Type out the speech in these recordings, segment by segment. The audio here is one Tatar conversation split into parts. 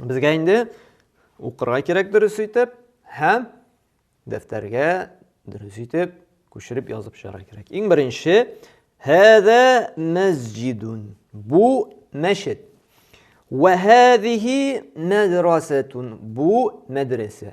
Безгә инде укырга кирәк дөрес итеп һәм дәфтәргә дөрес итеп күчереп язып чыгарга кирәк. Иң беренче Хәзә мәсҗидун. Бу мәчет. Вә хәзихи мәдрәсәтун. Бу мәдрәсә.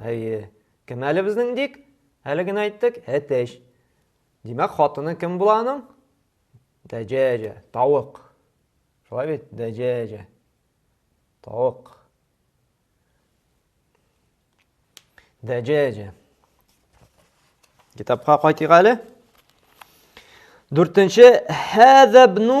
Әйе. Кем әле безнең Дик? Әле генә әйттек, әтәч. Димәк, хатыны кем була аның? Дәҗәҗә, тавык. Шулай бит, дәҗәҗә. Тавык. Дәҗәҗә. Китапка кайтыйк әле. Дүртенче хәзәбну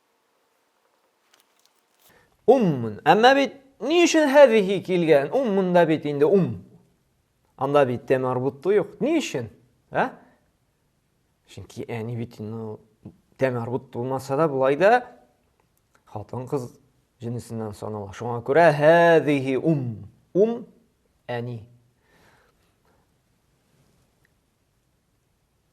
Уммун. Әмма бит ни өчен һәзихи килгән? Ум монда бит инде ум. Анда бит тәм арбутты юк. Ни өчен? Ә? Чөнки әни бит инде тәм арбут булмаса да болай да хатын кыз җенесеннән санала. Шуңа күрә һәзихи ум. Ум әни.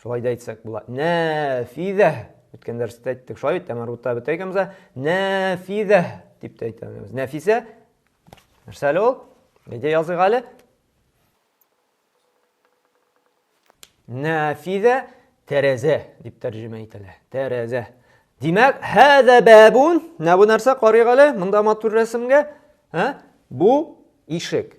Шулай да әйтсәк була. Нәфидә. Үткән дәрестә әйттек шулай бит, әмәрута бетә икәнбез. Нәфидә дип тә әйтәбез. Нәфисә. Нәрсә әле ул? Әйдә языйк әле. Нәфидә тәрәзә дип тәрҗемә ителә. Тәрәзә. Димәк, һәзә бабун. Нә бу нәрсә карыйк әле? Монда матур рәсемгә. Һә? Бу ишек.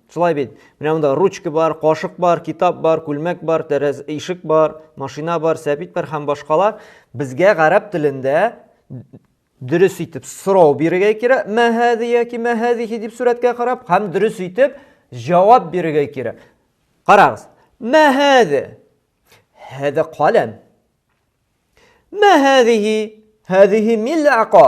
Шулай бит. Менә монда ручка бар, кашык бар, китап бар, күлмәк бар, тәрәз ишек бар, машина бар, сәбит бар һәм башкалар. Безгә гарәп телендә дөрес итеп сорау бирергә кирәк. Мәһәди яки мәһәдихи дип сурәткә карап һәм дөрес итеп җавап бирергә кирәк. Карагыз. Мәһәди. Һәдә каләм. Мәһәдихи. Һәдихи милака.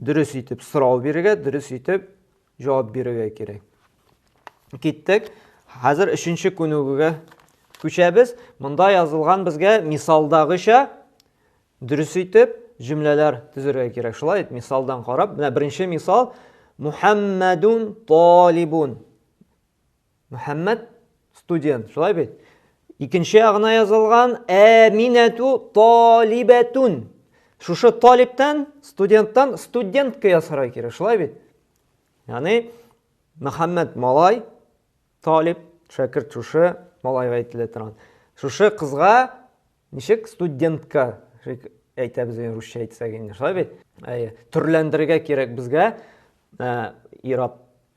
дөрес итеп сорау бирергә, дөрес итеп җавап бирергә кирәк. Киттек. Хәзер өченче күнегүгә күчәбез. Монда язылган безгә мисалдагыча дөрес итеп җөмләләр төзергә кирәк. Шулай мисалдан карап, менә беренче мисал Мухаммадун талибун. Мөхәммәд студент, шулай бит? Икенче ягына язылган әминәту талибәтүн. Шушы талиптан, студенттан студентка ясарга кирәк, шулай бит? Яни Мөхәммәд малай, талиб, шәкерт шушы малайга әйтелә торган. Шушы кызга ничек студентка әйтәбез инде русча әйтсәк инде, шулай бит? Әйе, төрләндерергә кирәк безгә э, ирап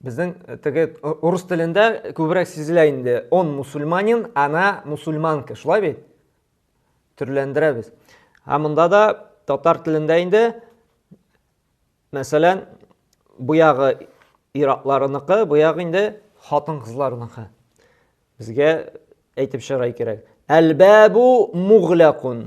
Безнең э, теге э, урыс телендә күбрәк сизелә инде. Он мусульманин, она мусульманка. Шулай бит? Төрләндерәбез. Ә монда да татар телендә инде мәсәлән, бу ягы иракларыныкы, бу ягы инде хатын-кызларыныкы. Безгә әйтеп чыгарай кирәк. Әлбәбу муглакун.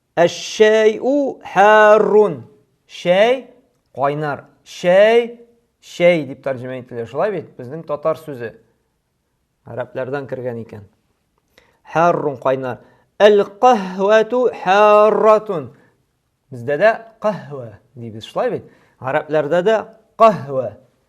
Әш-шәй-ү һәр-рун. Чәй кайнар. Чәй, чәй дип тәрҗемә ителә. Шулай бит? Безнең татар сүзе. Гарәпләрдән кергән икән. Һәр-рун кайнар. Әл-каһвәтү һәр-ратун. Бездә дә каһвә дибез. Шулай бит? Гарәпләрдә дә каһвә.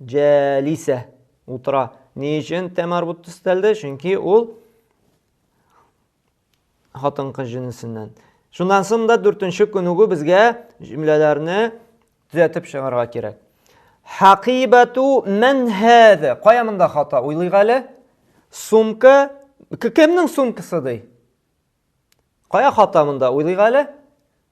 Җәлисә утыра. Ни өчен тә марбут төстәлде? Чөнки ул хатын-кыз җенесеннән. Шуннан соң да дүртенче күнегү безгә җөмләләрне төзәтеп чыгарга кирәк. Хакибату мән һәзә? Кая монда хата? Уйлыйк әле. Сумка кемнең сумкасы ди? Кая хата монда? Уйлыйк әле.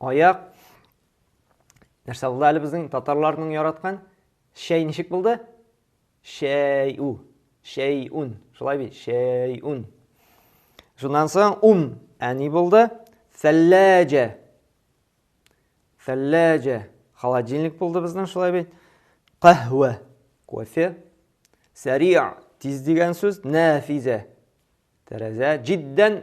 Аяк. Нәрсә булды әле безнең татарларның яраткан? Шәй ничек булды? Шәй у. Шәй ун. Шулай бит, шәй ун. Шуннан соң ум. Ә ни булды? Сәлләҗә. Сәлләҗә. Холодильник булды безнең шулай бит. Каһвә. Кофе. Сәрия. Тиз дигән сүз. Нәфизә. Тәрәзә. Җиддән.